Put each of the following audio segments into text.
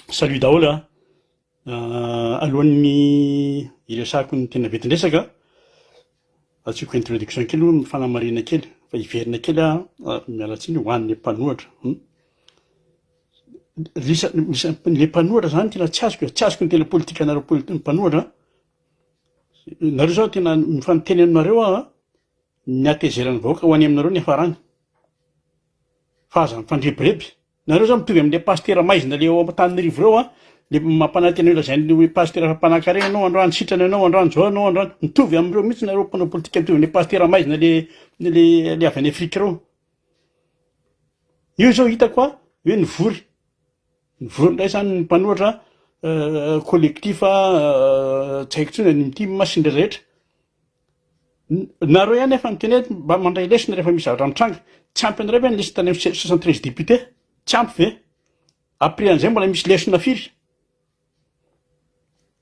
Salut daholo a! Alohan'ny hiresahako ny tena vetin-dresaka, asiako introduction kely aloha fanamarihana kely fa hiverina kely aho, miala tsiny ho an'ny mpanohatra. Ilay mpanohatra zany tena tsy azoko e, tsy azoko ny tena politikanareo mpanohatra, nareo zao tena efa niteny aminareo aho ny hatezeran'ny vahoaka ho any aminareo ny hiafarany fa aza mifandrebireby. Nareo zany mitovy amle pasitera maizina le ao Antananarivo reo a, le mampanantena io lazainy hoe pasitera fa mpanankarena anao androany, sitrana anao androany, zao anao androany, mitovy amreo mihitsy nareo mpanao politika mitovy amle pasitera maizina le le le avy any Afrika reo. Io zao hitako a hoe nivory, nivory ndray zany ny mpanoratra collectif tsy haiko tsony ny tim sy ndray rehetra, Nareo ihany efa miteny hoe mba mandray lesona rehefa misy zavatra mitranga. Tsy ampy anareo ve ny liste ny amin'ny soixante treize députés? Tsy ampy ve? Après an'izay mbola misy lesona firy?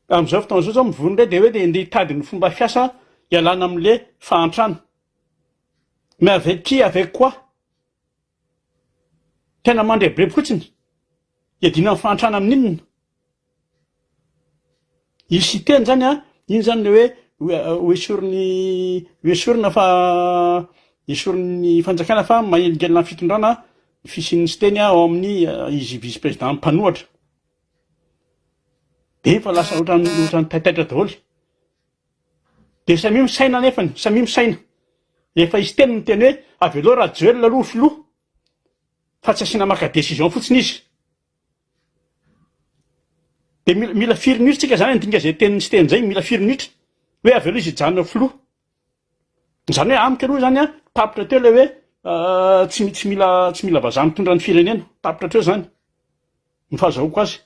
Amin'izao fotoana izao zao mivory indray dia hoe dia ndeha hitady ny fomba fiasa hialana amin'le fahantrana. Mais avec qui, avec quoi? Tena mandrebireby fotsiny. Iadiana amin'ny fahantrana amin'inona? Io Siteny zany a, iny zany le hoe ho esorin'ny ho esorina fa esorin'ny fanjakana fa manelingelina amin'ny fitondrana ny fisian'ny Siteny ao amin'ny izy vice président mpanohatra. Be fa lasa ohatran'ny ohatran'ny taitaitra daholo. Dia samia misaina anefany, samia misaina. Efa izy telo no niteny hoe avelao Rajoelina aloha ho filoha fa tsy asiana maka décision fotsiny izy. Dia mila, mila firy minitra tsika zany handinga izay tenin'ny Siteny izay, mila firy minitra? Hoe avelao izy hijanona ho filoha. Izany hoe amiko aloha zany an, tapitra teo ilay hoe ah, tsy, tsy mila, tsy mila vazaha mitondra ny firenena. Tapitra hatreo zany. Ny fahazahoako azy.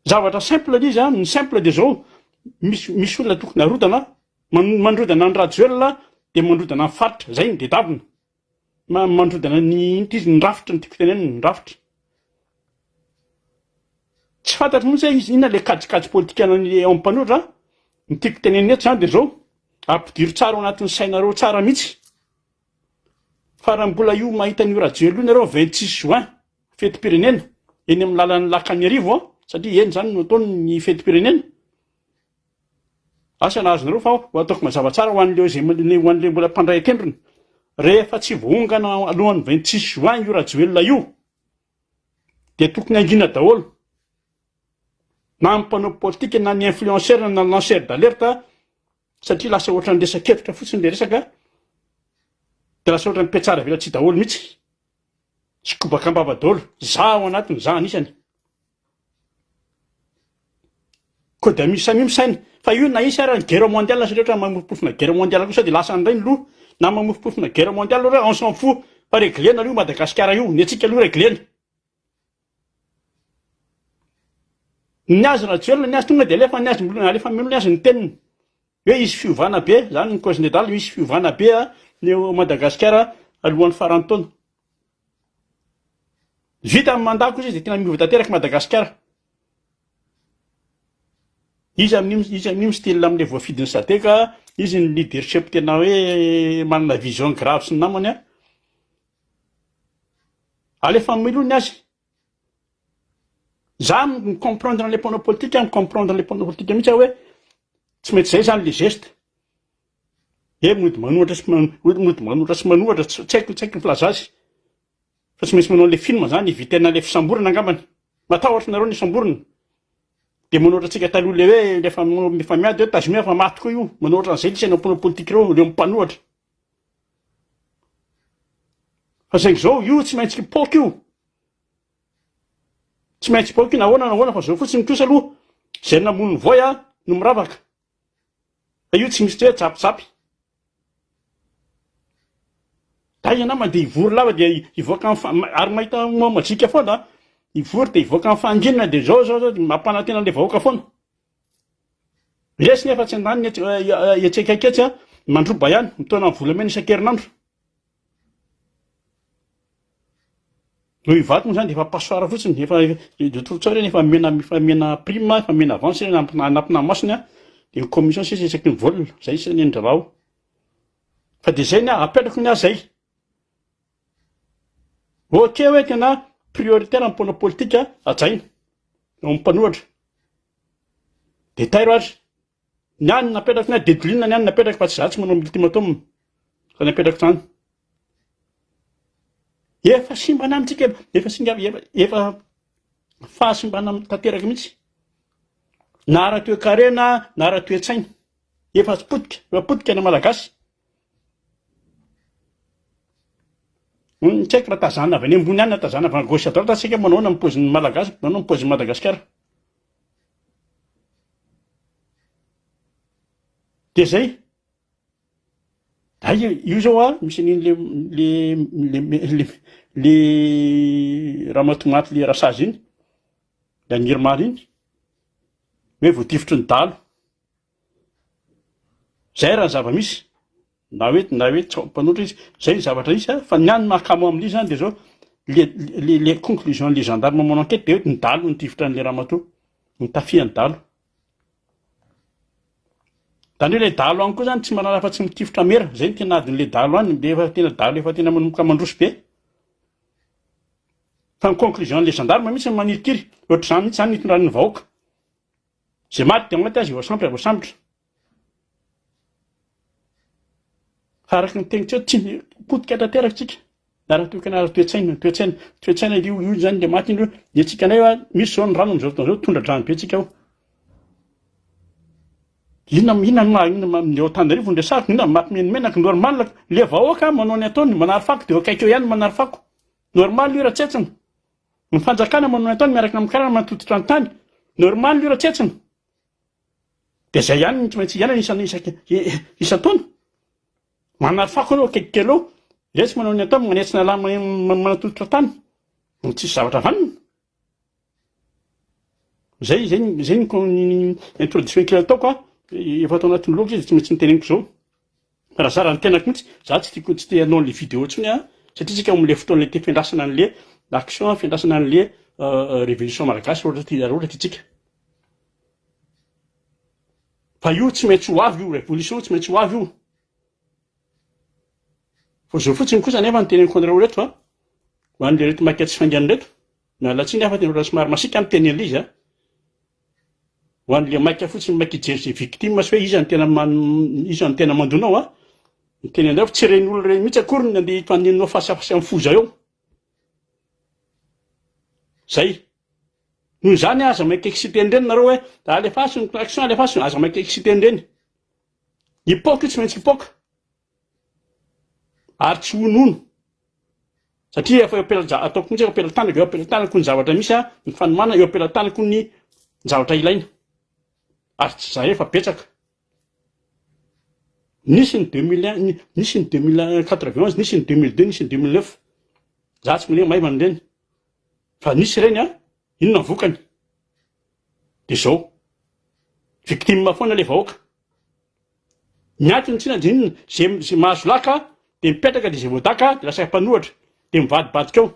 Zavatra simple le izy an, ny simple dia zao, misy misy olona tokony harodana, mandrodana an'i Rajoelina dia mandrodana ny faritra, zay no dedavina, mandrodana ny inona ty izy, ny rafitra no tiako tenenina, ny rafitra, tsy fantatro mihintsy hoe inona le kajikajy politikan'ny ao amin'ny mpanohitra an, ny tiako tenenina eto zany dia zao, ampidiro tsara ao anatin'ny sainareo tsara mihintsy fa raha mbola io mahita an'io Rajoelina io nareo vingt six juin, fetim-pirenena eny amin'ny lalan'ny Lac-Anirivo an, satria eny izany no ataony ny fetim-pirenena. Asa nahazo anareo fa ho ataoko mazava tsara ho an'ireo izay ho an'ireo mbola mpandray an-kendrony. Rehefa tsy voaongana alohan'ny 26 juin io Rajoelina io dia tokony hangina daholo na ny mpanao politika na ny influenceur na ny lanceur d'alerte satria lasa ohatran'ny resakevitra fotsiny le resaka dia lasa ohatran'ny petsara velatsihy daholo mihitsy Tsy kobaka am-bava daholo. Za ao anatiny, za anisany. Koa dia misy samia misaina fa io na hisy ary ny guerre mondiale satria ohatran'ny mamofompofona guerre mondiale koa sao dia lasa indray ny loha. Na mamofompofona guerre mondiale ary on s'en fout fa reglena aloha io Madagasikara io, ny antsika aloha reglena. Ny azy Rajoelina ny azy tonga dia alefa ny azy, alefa ameno ny azy ny teniny. Hoe hisy fiovana be, zany ny cause nedal, hisy fiovana be ny eo Madagasikara alohan'ny faran'ny taona. Vita ny mandat kosa izy de tena miova tanteraka Madagasikara. Iza amin'io iza amin'io mi-style amin'ilay voafidin'ny sadec, izy ny leadership tena hoe manana vision grave sy ny namany an. Alefa mamelony azy, Za mi comprendre an'le mpanao politika, mi comprendre an'le mpanao politika mihitsy aho hoe tsy maintsy zay zany le geste, hoe mody manohatra sy mody manohitra sy manohatra, tsy haiko tsy haiko ny filaza azy, fa tsy maintsy manao an'le film zany hivitena an'le fisamborana angambany, matahotra nareo ny hisamborina, de manohatra antsika taloha le hoe le efa mifamiady hoe tazomia fa maty koa io, manohatra an'zay le isan'ireo mpanao politika ireo, ireo mpanohatra. Fa saingy izao, io tsy maintsy kipaoka io. Tsy maintsy kipaoka io na ahoana na ahoana fa izao fotsiny kosa aloha izay namono ny voay no miravaka. Fa io tsy misy hoe tsapitsapy. Day ianao mandeha hivory lava dia hivoaka amin'ny fa- ma- ary mahita moa majika foana an. Hivory dia hivoaka amin'ny fahanginana dia izao izao izao dia mampanantena an'ilay vahoaka foana. Resy nefa tsy an-daniny etsy etsy akaiky etsy an, mandroba ihany, mitaona ny volamena isan-kerinandro. Noho i Vaky moa izany dia efa passoire fotsiny, efa de trop tsao ireny, efa mena efa mena prime, efa mena avance ireny am- anatinà masony an, dia ny commission sisa isaky ny vol, izay sisa ny an-dRarao. Fa dia izay ny ahy, apetrako ny ahy izay. Ok hoe tena prioritaire ny mponina politika hajaina eo amin'ny mpanohatra de tairo ary ny ahy ny napetrako ny ahy dedoline ny ahy ny napetrako fa tsy za tsy manao multimatum fa ny apetrako zany efa simbana amintsika efa singa efa fahasimbana tanteraka mihitsy na ara-toekarena na ara-toetsaina efa potika efa potika ny malagasy Hum, tsy haiko raha tazana avy any ambony ihany na tazana avy à gauche à droite, tsy haiko hoe manao ahoana ny paozin'ny Malagasy, manao ahoana ny paozin'i Madagasikara. Dia izay. Hay io izao an, misy an'iny le le le le le ramatoa maty le rasazy iny, le an'Irma iny, hoe voatifitry ny dahalo. Izay raha ny zava-misy, na hoe na hoe tsy mpanotra izy, izay ny zavatra misy an, fa ny ahy ny mahakamo amin'ilay izy zany dia izao, le le conclusion le gendarme manao enquete dia hoe ny dahalo no nitifitra an'ilay ramatoa, nitafia ny dahalo. Zany hoe ilay dahalo any koa zany tsy manana afa-tsy mitifitra mera, izay no tena adin'ilay dahalo any, le efa tena dahalo efa tena manomboka mandroso be. Fa ny conclusion an'ilay gendarme mihitsy no manirikiry, ohatr'izany mihitsy zany no itondran'ny vahoaka. Zay maty dia maty aza io voasambotra voasambotra. Fa araka ny teniko teo tsy potika tanteraka tsika. Na raha tokana ara toetsaina, toetsaina, toetsaina io io zany dia maty indro. Dia tsika nay ah, misy zao ny rano amizao fotoana zao tondra drano be tsika ao. Ina ina ma ina ma eo tanarivo ny resako, ina maty meny menaka normal le vahoaka manao ny ataony manary fako dia eo akaiky eo ihany manary fako. Normal io raha tsentsina. Ny fanjakana manome an-tany miaraka amin'ny karana matototra ny tany. Normal io raha tsentsina. Dia izay ihany no tsy maintsy iainana isan isan isan-taona. Manary fako ianao akaiky kely eo. Resy manao ny atao manetsy ny ala matototra tany. Ny tsisy zavatra vanona. Zay zay zay ny introduction kely ataoko a. Efa ato anatin'ny blog izy tsy maintsy niteneniko izao. Raha zara ny tenako mintsy, za tsy tiako tsy te hanao anle video tsony a, satria tsika ao amle fotoanle te fiandrasana anle action a, fiandrasana anle revolution malagasy raha ohatra raha ohatra tiantsika. Fa io tsy maintsy ho avy io, revolution tsy maintsy ho avy io. Fa zao fotsiny kosa nefa ny teneniko anareo reto a, ho anle reto maika tsy faingana reto, Miala tsiny aho fa tena somary masiaka ny teny Eliza a! Ho an'ilay maika fotsiny maika hijery izay victime sy hoe iza no tena man- iza no tena mando anao a! Ny teny anao fa tsy ireny olona ireny mihitsy akory no nandeha hifaninanao face à face amin'ny foza eo. Zay! Noho izany aza maika exciter an'ireny nareo hoe alefaso ny klaxon alefaso, aza maika exciter an'ireny. Hipoka io tsy maintsy hipoka. ary tsy honono satria efa eo am-pelaja- ataoko mihitsy hoe am-pelantanako, eo am-pelantanako ny zavatra misy aho, ny fanomanana, eo am-pelantanako ny zavatra ilaina. Ary tsy zare fa betsaka. Nisy ny deux mille un, ni- nisy ny deux mille quatre-vingt onze, nisy ny deux mille deux, nisy ny deux mille neuf. Za tsy mino hoe maivana ireny. Fa nisy ireny an, inona ny vokany? de zao. Victime foana le vahoaka. Miato ny tsina de inona? Ze ze mahazo laka de mipetraka de ze voadaka de lasa mpanohatra de mivadibadika ao.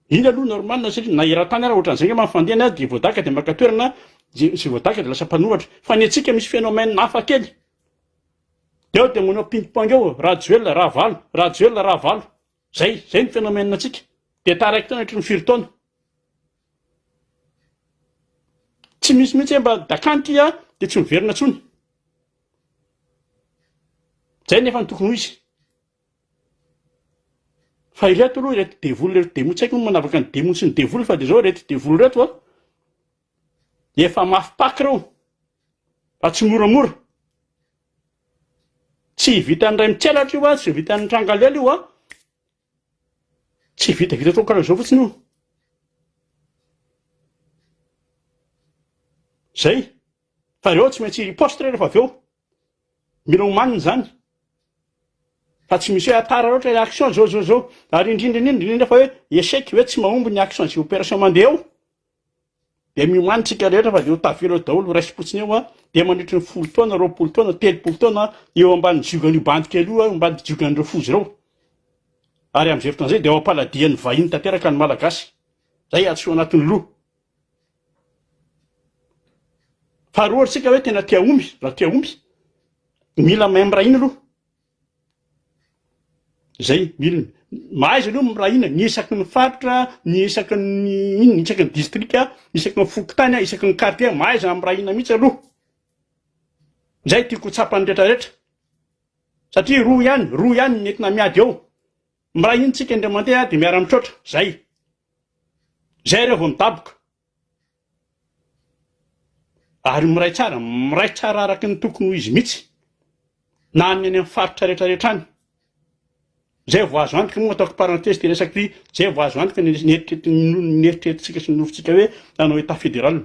Iny aloha normal satria na eran-tany ara ohatran'izay ngamba ny fandehana de voadaka de maka toerana ze ze voadaka de lasa mpanohatra. Fa ny antsika misy phénomène hafa kely. De ao de manao ping pong ao, Rajoelina, Ravalo, Rajoelina, Ravalo. Zay, zay ny phénomène antsika. Dia taraiky tena ohatry ny firy taona. Tsy misy mihitsy hoe mba dakany ty a, dia tsy miverina tsony. Zay nefa ny tokony ho izy. Fa ireto aloha ireto devoly ireto demo tsy haiko manavaka ny demo sy ny devoly fa de zao ireto devoly ireto a. Efa mafy pack reo fa tsy moramora. Tsy vitan'ny ray mitselatra io a, tsy vitan'ny tranga lela io a. Tsy vitavita atao karaha zao fotsiny io. Zay, fa reo tsy maintsy riposte re refa avy eo. Mila homanina zany. Fa tsy misy hoe à part ohatra hoe action zao zao zao. Ary indrindra indrindra indrindra fa hoe échec hoe tsy mahomby ny action sy opération mandeha eo. Dia miomany isika rehetra fa dia ho tavela eo daholo, ho raisim-potsiny eo, dia mandritry ny folo taona, roapolo taona, telopolo taona, eo ambany ziogan'io bandy kely io, eo ambany ziogan'ireo foza ireo. Ary amin'izay fotoana izay dia ao am-paladian'ny vahiny tanteraka ny Malagasy. Izay atsy ho anatin'ny loha. Faharoa ry tsika hoe tena tia omby, raha tia omby, mila mahay miray hina aloha. Zay milina, mahaiza aloha ny mirahina, ny isaky ny faritra, ny isaky ny inona, isaky ny district, isaky ny fokontany, isaky ny quartier, mahaiza ny mirahina mihitsy aloha, zay tiako ho tsapan'ny rehetra rehetra, satria roa ihany, roa ihany ny entina miady eo, miray hina tsika indray mandeha de miara mitroatra, zay, zay reo vao midaboka, Ary miray tsara, miray tsara araky ny tokony ho izy mihitsy na any any amin'ny faritra rehetra rehetra any. Izay vao azo antoka moa ataoko parenthèse ity resako ity, izay vao azo antoka ny ny eritreretintsika sy ny nofintsika hoe hanao état fédéral.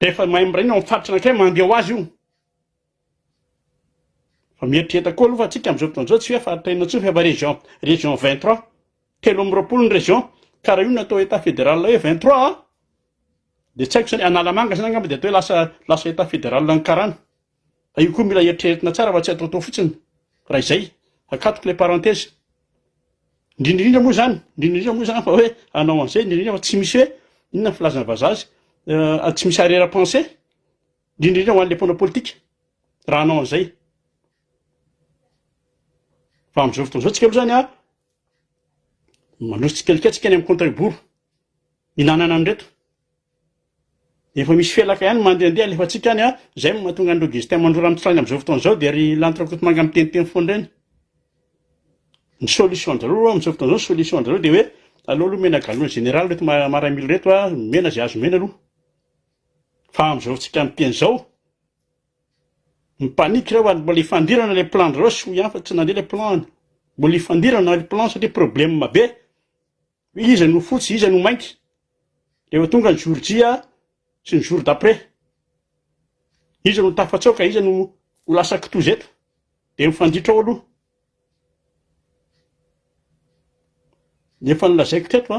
Rehefa mahay miray ny ao amin'ny faritra anankiray mandeha ho azy io. Fa mieritrereta koa aloha fa antsika amin'izao fotoana izao tsy hoe faritra enina intsony fa efa région, région vingt trois. Telo amby roapolo ny région. Ka raha io no atao état fédéral hoe vingt trois an, dia tsy haiko izany, Analamanga izany angamba dia atao hoe lasa, lasa état fédéral ny karana. Fa io koa mila eritreretina tsara fa tsy ataotao fotsiny, raha izay. Akatoko ilay parenthèse. Indrindra indrindra moa izany, indrindra indrindra moa izany fa hoe hanao an'izay indrindra indrindra fa tsy misy hoe inona ny filazana vazaha azy, tsy misy arrière pensée. Indrindra indrindra ho an'ilay mpanao politika, raha hanao an'izay. Fa amin'izao fotoana izao tsika aloha zany a, manosika tsikelikely tsika any amin'ny compte à rebours, hinanana an'ireto. Efa misy felaka ihany mandehandeha alefantsika any a, izay no mahatonga an'ireo destin mandrora mitsra any amin'izao fotoana izao dia ry lanitra kotomanga miteniteny foana ireny. Ny solution-dRareo amin'izao fotoana izao, solution-dRareo dia hoe aleo aloha omena galon général ireto ma- maramila ireto a, omena izay azo omena aloha. Fa amin'izao tsika miteny izao, mi panique reo ary mbola hifandirana ilay plan ndry reo sy hoy ihany fa tsy nandeha ilay plan, mbola hifandirana ilay plan satria problème be, hoe iza no fotsy iza no mainty, rehefa tonga ny jour J sy ny jour d'après, iza no tafatsaoka iza no ho lasa kitoza eto, dia mifanditra ao aloha. Ny efa nolazaiko teto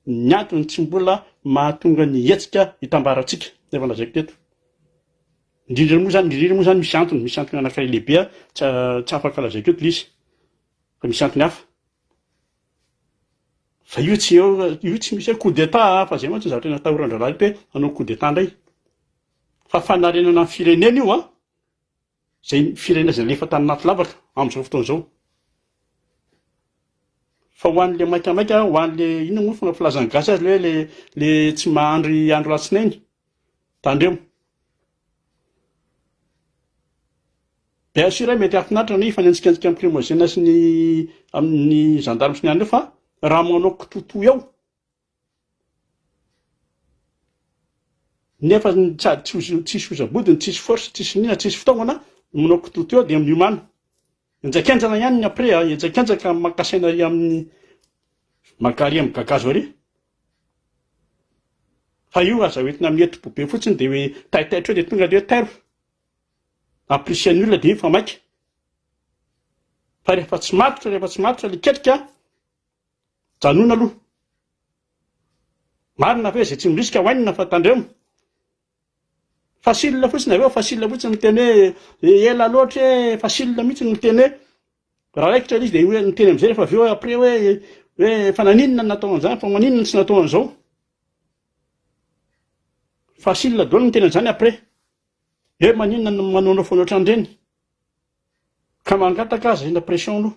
ny antony tsy mbola mahatonga ny hetsika hitambarantsika, efa nolazaiko teto. Indrindra moa zany, indrindra moa zany misy antony, misy antony anankiray lehibe tsy tsy afaka lazaiko eto le izy fa misy antony hafa. Fa io tsy eo, io tsy misy hoe coup d'etat fa zay mantsy ny zavatra natahoran-dRalahy le hoe hanao coup d'etat ndray, fa fanarenana ny firenena io an! izay firenena izay alefa tany anaty lavaka amin'izao fotoana izao. Fa ho an'ilay maikamaika, ho an'ilay inona moa fomba filazan'ny gasy azy ilay hoe le tsy mahandry andro latsinainy, tandremo. Bien sûr, mety hahafinaritra ny hifanenjikenjika amin'ny Primogène sy ny amin'ny gendarme sy ny an'ireo fa raha manao kitotoa eo, Nefa sady tsisy oza-bodiny, tsisy force, tsisy nina, tsisy fitaovana, omenao kitoto eo dia miomana. Enjakenjana ihany ny après a, enjakenjaka amin'ny maka saina ary amin'ny maka ary amin'ny gagazo ary. Fa io aza hoentina mihetsi-po be fotsiny dia hoe taitaitra eo dia tonga dia hoe tairo. Apprécier ny olona dia iny fa maika. Fa rehefa tsy matotra, rehefa tsy matotra ilay ketrika, Janona aloha. Marina fa hoe izay tsy mirisika ho hainina fa tandremo. Facile fotsiny avy eo facile fotsiny miteny hoe ela loatra e facile mihitsy ny miteny hoe raha raikitra izy dia hoe miteny amin'izay rehefa avy eo après hoe hoe efa naninona ny natao an'izany fa maninona ny tsy natao an'izao. Facile daholo ny miteny an'izany après. Hoe maninona ny manaonao foana ohatran'ireny. Ka mangataka aza ina pression aloha.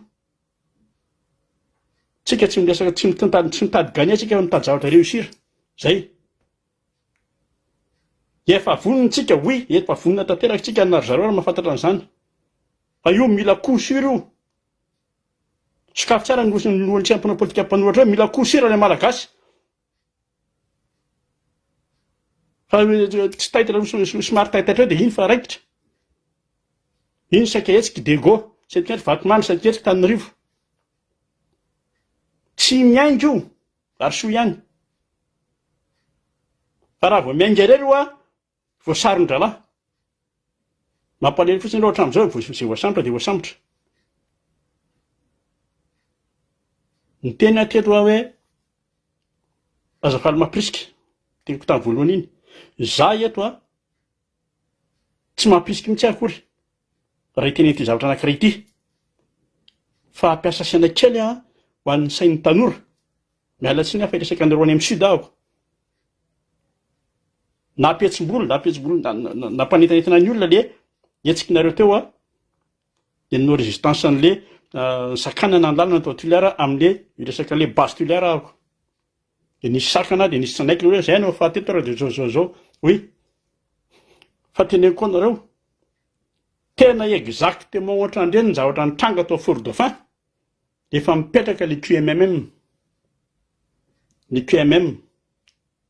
Tsika tsy miresaka tsy mitantady tsy mitady gagner tsika fa mitady zavatra reussir. Zay. Dia efa vonona tsika oui efa vonona tanteraka tsika na ry zareo ary mahafantatra an'izany. Fa io mila coup sur io. Sokafy tsara ny lohantsika mpanao politika mpanohatra eo mila coup sur le malagasy. Fa tsy taitra somary taitaitra eo dia iny fa raikitra. Iny saika hetsika i Dego, saika hetsika Vatomamy, saika hetsika Tanorivo. Tsy miainga io ary soa ihany. Fa raha vao miainga irery oa Voasaron-drahalahy. Mampalahelo fotsiny aloha hatramin'izao e, izay voasambotra dia voasambotra. Ny teniny hatreto raha hoe aza faly mampirisika, teniko tamin'ny voalohany iny. Za eto a, tsy mampirisika mihitsy akory raha hiteny an'ity zavatra anankiray ity. Fa hampiasa saina kely aho ho an'ny sain'ny tanora. Miala tsiny aho fa hiresaka anareo any am sud aho. Nampihetsim-bolo, nampihetsim-bolo, nampanentanentana ny olona le hetsikinareo teo a, de nanao résistance an'le sakanana ny lalana tao Toliara amle hiresaka an'le base Toliara ahako. De nisy sakana de nisy tsanaiky hoe zay no fahateto ary de zao zao zao. Oui. Fa teneniko koa anareo, tena exactement ohatrandreny ny zavatra nitranga tao Fort Dauphin, Efa mipetraka le QMMM. Le QMM.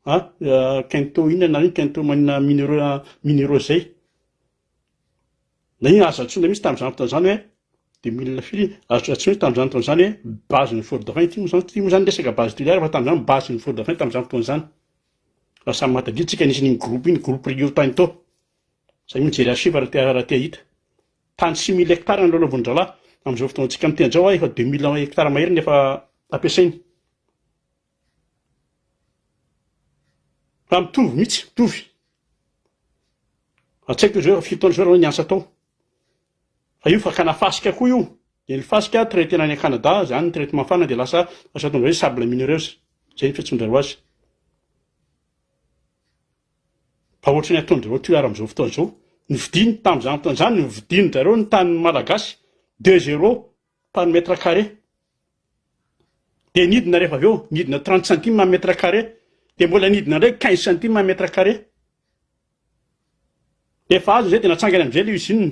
Ha, ah, eh, Kento inona nareo Kento manina mineureux ah, mineureux zay. Na iny azo antsoina mihitsy tamin'izany fotoana izany hoe deux mille firy azo antsoina tamin'izany fotoana izany hoe base ny fort dauphin ity moa izany ity moa izany resaka base toliara fa tamin'izany base ny fort dauphin tamin'izany fotoana izany fa samy mahatadiantsika nisy an'iny groupe iny groupe rio tany tao Izay mijery archive raha te raha te hahita. Tany six mille hectares no lalaovin'ny dralahy. Amin'izao fotoantsika miteny izao aho efa deux mille hectares mahery no efa ampiasainy. Fa mitovy mihitsy, mitovy. Raha tsy haiko izy hoe firy taona izao ianao niasa tao. Fa io fakana fasika koa io. Dia ny fasika traitena any Canada, izany ny traitement fana dia lasa lasa tonga hoe sable minereuse. Izay ny fiantsoan-dry zareo azy. Fa ohatran'ny ataon'jareo tohiara amin'izao fotoana izao, novidiny tamin'izany fotoana izany novidin-dRareo ny tanin'ny Malagasy deux zero par mètre carré. Dia nidina rehefa avy eo, nidina trente centimes en mètre carré, dia mbola nidina indray quinze centimes en mètre carré. Rehefa azo izay dia natsangany amin'izay ilay usine.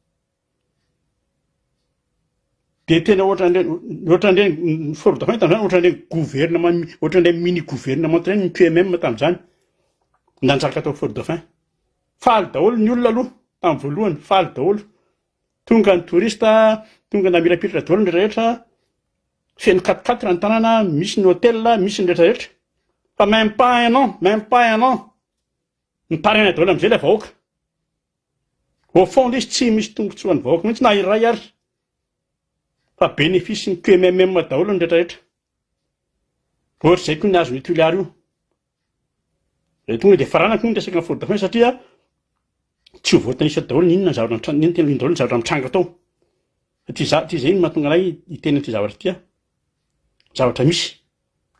Dia tena ohatran'ireny ohatran'ireny ny forme de fahitana izany ohatran'ireny gouvernement ohatran'ilay mini gouvernement ireny ny PMM tamin'izany nanjaka tao Fort Dauphin. Faly daholo ny olona aloha tamin'ny voalohany, faly daholo. Tonga ny touriste, tonga namirapiratra daholo ny rehetra, feno quat-quatre ny tanàna, misy ny hotel, misy ny rehetra rehetra. Fa même pas un an, même pas un an. Mitaraina daholo amizay ilay vahoaka. Au fond lesy tsy misy tombotsoa an'ny vahoaka mihitsy na iray ary. Fa bénéfice ny QMMM daholo ny rehetra rehetra. Ohatr'izay koa ny azon'ny Tuileries io. Dia tonga dia farana koa ny resaka faute de fin satria tsy ho voatanisa daholo ny inona ny zavatra mitranga, inona tena daholo ny zavatra mitranga tao. Ty za ty zay no mahatonga anay hiteny an'ity zavatra ity. Zavatra misy.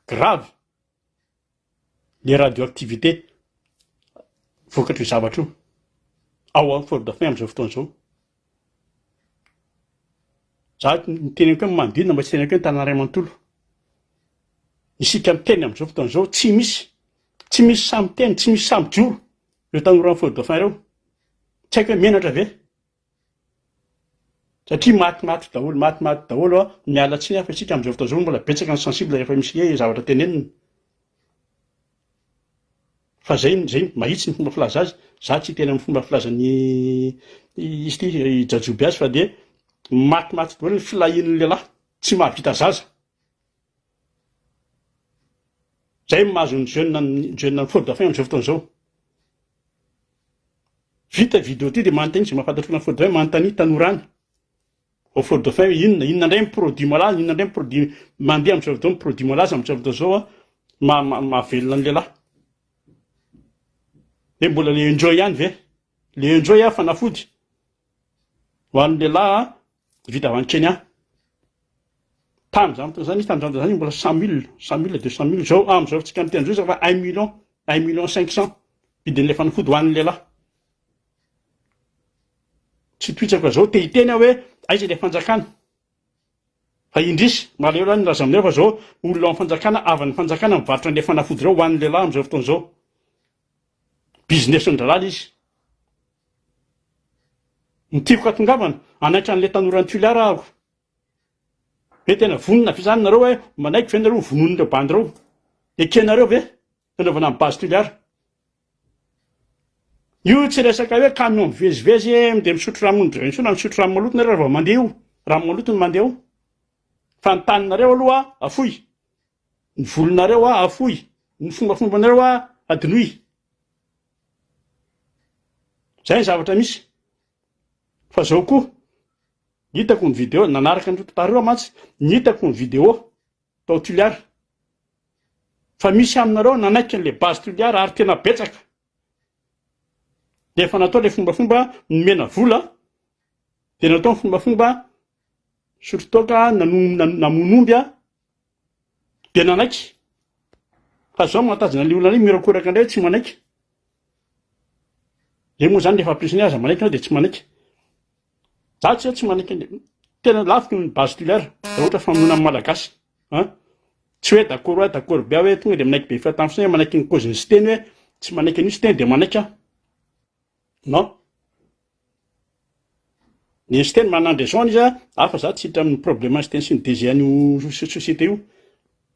Grave. le radioactivité vokatr'io zavatra io ao amin'ny forêt dauphin amin'izao fotoana izao. Za ny teneniko hoe manodidina mba tsy teneniko hoe ny tanàna iray manontolo. Isika miteny amin'izao fotoana izao tsy misy tsy misy sahy miteny, tsy misy sahy mijoro ireo tanora any forêt dauphin ireo. Tsy haiko hoe menatra ve? satria maty maty daholo maty maty daholo a miala tsiny aho fa isika amizao fotoana izao mbola betsaka ny sensible rehefa misy hoe zavatra tenenina fa zay zay mahitsy ny fomba filaza azy za tsy tena amin'ny fomba filazan'ny izy ity i jajoby azy fa dia maty maty daholo ny filahian'ny lehilahy tsy mahavita zaza zay mahazo ny jeune ny jeune ny faux dauphin amizao fotoana izao Vita video ty de manontania zay mahafantatra olona faux dauphin manontania tanora any vao faux dauphin hoe inona inona ndray ny produit malaza inona ndray ny produit mandeha amizao fotoana ny produit malaza amizao fotoana zao a ma- ma- mahavelona ny lehilahy hoe mbola le enjoy ihany ve le enjoy a fanafody ho an'ny lehilahy a Vita avy any Kenya. Tany zany fotoana zany izy tany zany zany mbola cent mille, cent mille, deux cent mille zao amizao tsika miteny zao izy efa un million, un million cinq cent vidin'ilay fanafody ho an'ny lehilahy. Tsy tohitsako zao te hiteny aho hoe aiza ilay fanjakana. Fa indrisy, maleo lahy ny laza aminay fa zao olona ao amin'ny fanjakana, avan'ny fanjakana mivarotra an'ilay fanafody ireo ho an'ny lehilahy amizao fotoana izao. business ny dralala izy. Ny tiako hatongavana, hanaitra an'ilay tanoran'i Tuileries aho. Hoe tena vonona ve izany nareo hoe manaiky ve nareo ho vonoin'ireo bandy ireo? Ekenareo ve nanaovana an'i base Tuileries? Io tsy resaka hoe camion mivezivezy dia misotro rano ny intsony na misotro rano maloto nareo raha vao mandeha io. Rano maloto no mandeha eo. Fa ny taninareo aloha afoy. Ny volonareo hoa afoy, ny fombafombanareo hoa adinoy. Zay ny zavatra misy. Fa zao koa, hitako ny video, nanaraka ny retard reo mantsy, ny hitako ny video tao Tuliar. Fa misy aminareo nanaiky an'le base Tuliar ary tena betsaka. De efa natao le fombafomba nomena vola, de natao ny fombafomba sotrotoaka, namono omby, Dia nanaiky. Fa zao mahatazana an'ilay olona anay miorakoraka indray hoe tsy manaiky. Dia moa zany rehefa ampirisiny hoe aza manaiky ianao dia tsy manaiky. Za tsy hoe tsy manaiky an'le tena laviko ny base tulaire raha ohatra famonoana amin'ny Malagasy an. Tsy hoe d'accord hoa d'accord be aho hoe tonga dia manaiky be fahitany fotsiny hoe manaiky ny cause-n'i Siteny hoe tsy manaiky an'io Siteny dia manaiky aho. Non. Ny Einstein manana ny raison-ny izy a, fa za tsy hiditra amin'ny problème Einstein sy ny DG an'io société io,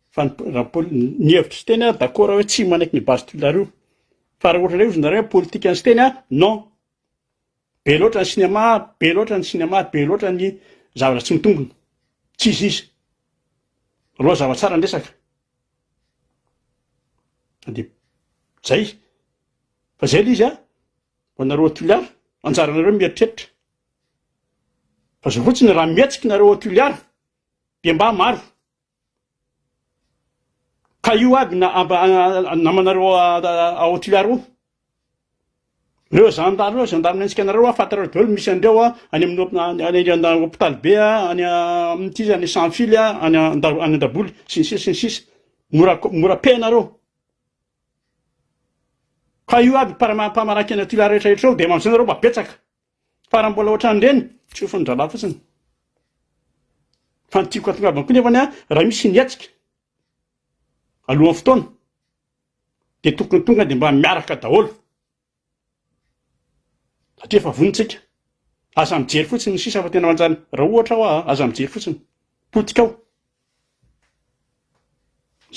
fa ny raha ny pol- ny hevitry Siteny aho d'accord aho hoe tsy manaiky ny base tulaire io, fa raha ohatra indray hozy nareo hoe politique an'i Siteny an, non. Be loatra ny cinéma, be loatra ny cinéma, be loatra ny zavatra tsy mitombina, tsy izy izy. Alou aza zava-tsara ny resaka. de zay fa zay le izy a ho anareo atoliara anjaranareo mieritreritra fa zao fotsiny raha mihetsiky nareo atoliara de mba maro ka io aby na amba namanareo aotoliara o Reo zandary reo zandary miantsika anareo hoa fantareo daolo misy andreo a any amin'ny hopitaly be a any amin'ny ty zany sans fil a any andaboly sy ny sisa sy ny sisa mora mora pay nareo ka io aby mpamaranky ana ty lahy rehetra rehetra reo de amizay nareo mba betsaka fa raha mbola ohatrany reny tsofiny drala fotsiny fa ny tiko atongavany koa nefany a raha misy ny hetsika alohan'ny fotoana dia tokony tonga dia mba miaraka daholo satria efa vonontsika aza mijery fotsiny ny sisa fa tena manjany raha ohatra aho ah, aza mijery fotsiny potika ao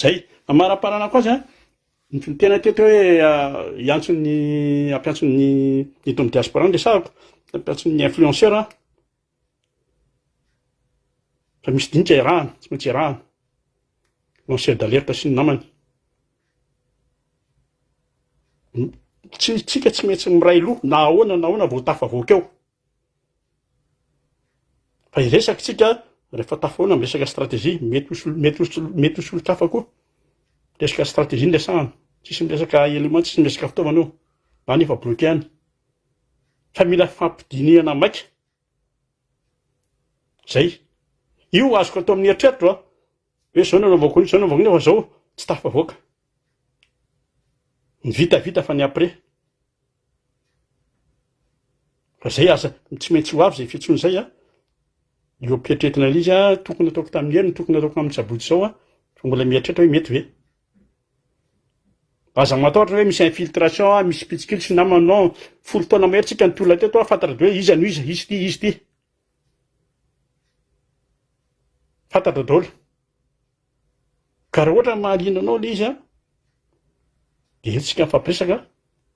zay fa maraparana koa zany ny tena teto hoe hiantson'ny ah, ampiantson'ny eto amin'ny diaspora ny resahako ampiantson'ny influenceur ah. Raha misy dinika iarahana, tsy maintsy iarahana. Lanceur d'alerte sy ny namany. Tsy tsika tsy maintsy miray loha na ahoana na ahoana vao tafavoaka eo. Fa hiresaka tsika rehefa tafahoana miresaka stratégie, mety ho solo- mety ho solo- mety ho solonkafa koa. Resaka stratégie no resahana. Tsisy miresaka élément, tsisy miresaka fitaovana eo. Na ny efa bloqué any. ka mila fampidinihana maika zay io azoko atao amin'ny eritreritro a hoe zao no anaovako an'io zao no anaovako an'io fa zao tsy tafavoaka ny vita vita fa ny après fa zay aza tsy maintsy ho avy zay fitsony zay a eo am-pieritrertina an'ilay izy a tokony ataoko tamin'ny heriny tokony ataoko amin'ny sabotsy zao a fa mbola mieritreritra hoe mety ve Aza matahotra hoe misy infiltration an, misy mpitsikilo sy namany non, folo taona mahery tsika nitolona teto an, fantatra daholo hoe iza no iza, izy ity, izy ity. Fantatra daholo. Ka raha ohatra mahaliana anao le izy an, de eo tsika mifampiresaka an,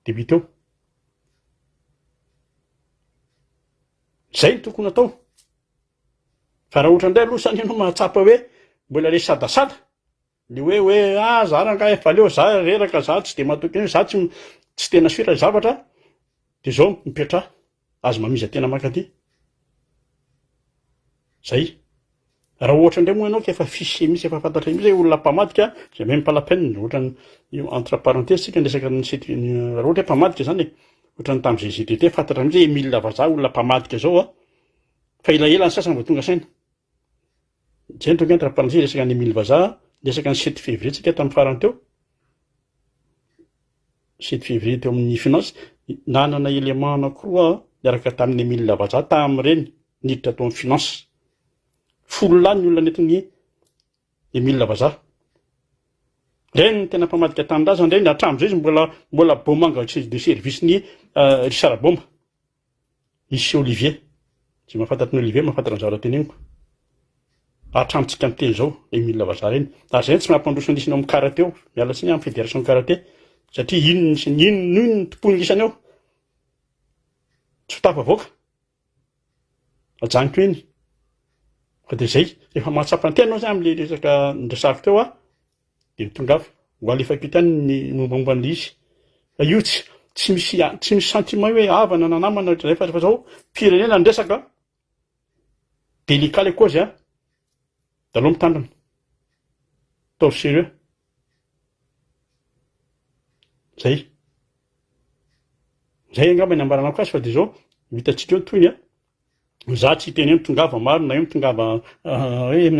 de mety eo. Zay no tokony atao. Fa raha ohatra ndray aloha sa ny ianao mahatsapa hoe mbola le sadasada, Le hoe hoe ah za rangahy efa leo za reraka za tsy de matoky an'io za tsy tsy tena sur le zavatra de zao mipetraha aza mamiza tena mankaty zay raha ohatra ndray moa ianao ka efa fiche mihitsy efa fantatray mihitsy hoe olona mpamadika zay même pas la peine ohatrany io entre parenthèse tsika ny resaka ny site raha ohatra hoe mpamadika zany e ohatrany tam GGTT fantatra mihitsy hoe Emile vazaha olona mpamadika zao a fa elaela ny sasany vao tonga saina Nicentrona ange ny rafipanantsika resaka an'i Emile Vazaha niresaka ny sept février tsika tamin'ny farany teo. Sept février teo amin'ny finance nanana élément anankiroa niaraka tamin'i Emile Vazaha tamin'ireny niditra tao amin'ny finance. Folo lahy ny olona nentin'i Emile Vazaha. Ireny ny tena mpamadika tanindrazana ireny hatramin'izay izy mbola mbola Bomanga de service-n'i Richard Boma. Lycée Olivier, izay mahafantatra an'i Olivier mahafantatra ny zavatra teneniko, hatramintsika miteny izao, Emile Vazaha ireny, ary izay no tsy mampandroso an'isany ao amin'ny karate ao, miala tsiny amin'ny federation karate, satria iny no isany, iny no iny no tompoin'ny isany ao, tsy ho tafavoaka, hajanoko eny, fa dia izay, rehefa mahatsapa ny tenanao zay amin'ilay resaka niresahako teo aho, dia mitondra afo ho alefa am-pitany ny mombamomba an'ilay izy. Fa io tsy tsy misy tsy misy sentiment hoe havana na namana ohatr'izay fa rehefa zao firenena ny resaka délicat le cause a de aleo mitandrina ataovy sérieux zay zay angamba ny ambaranako azy fa de zao ho hitantsika eo ny tohiny a Za tsy hiteny hoe mitongava maro na hoe mitongava hoe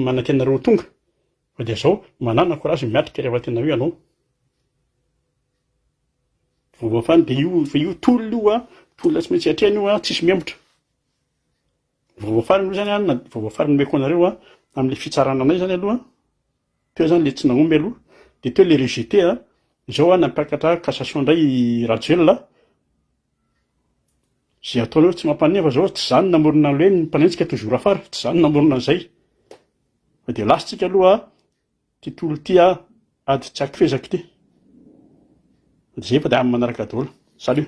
manantena anareo ho tonga fa dia zao manana courage miatrika rehefa tena hoe ianao voafaly dia io fa io tolona io a tolona tsy maintsy atrehina io a tsisy mihemotra voafaly aloha zany a na voafaly nomeko anareo a amle fitsarana anay zany aloha Teo zany le tsy nahomby aloha, de teo le rejeté a, zao a nampiakatra cassation ndray i Rajoelina a, ze ataonareo tsy mampaneno fa zao tsy za no namorona anle hoe ny mpaneno tsika toujours afara, tsy za no namorona anzay, fa de lasa tsika aloha ty tolo ty a, ady tsy akifezako ty, de zay fa de amin'ny manaraka daolo, salut.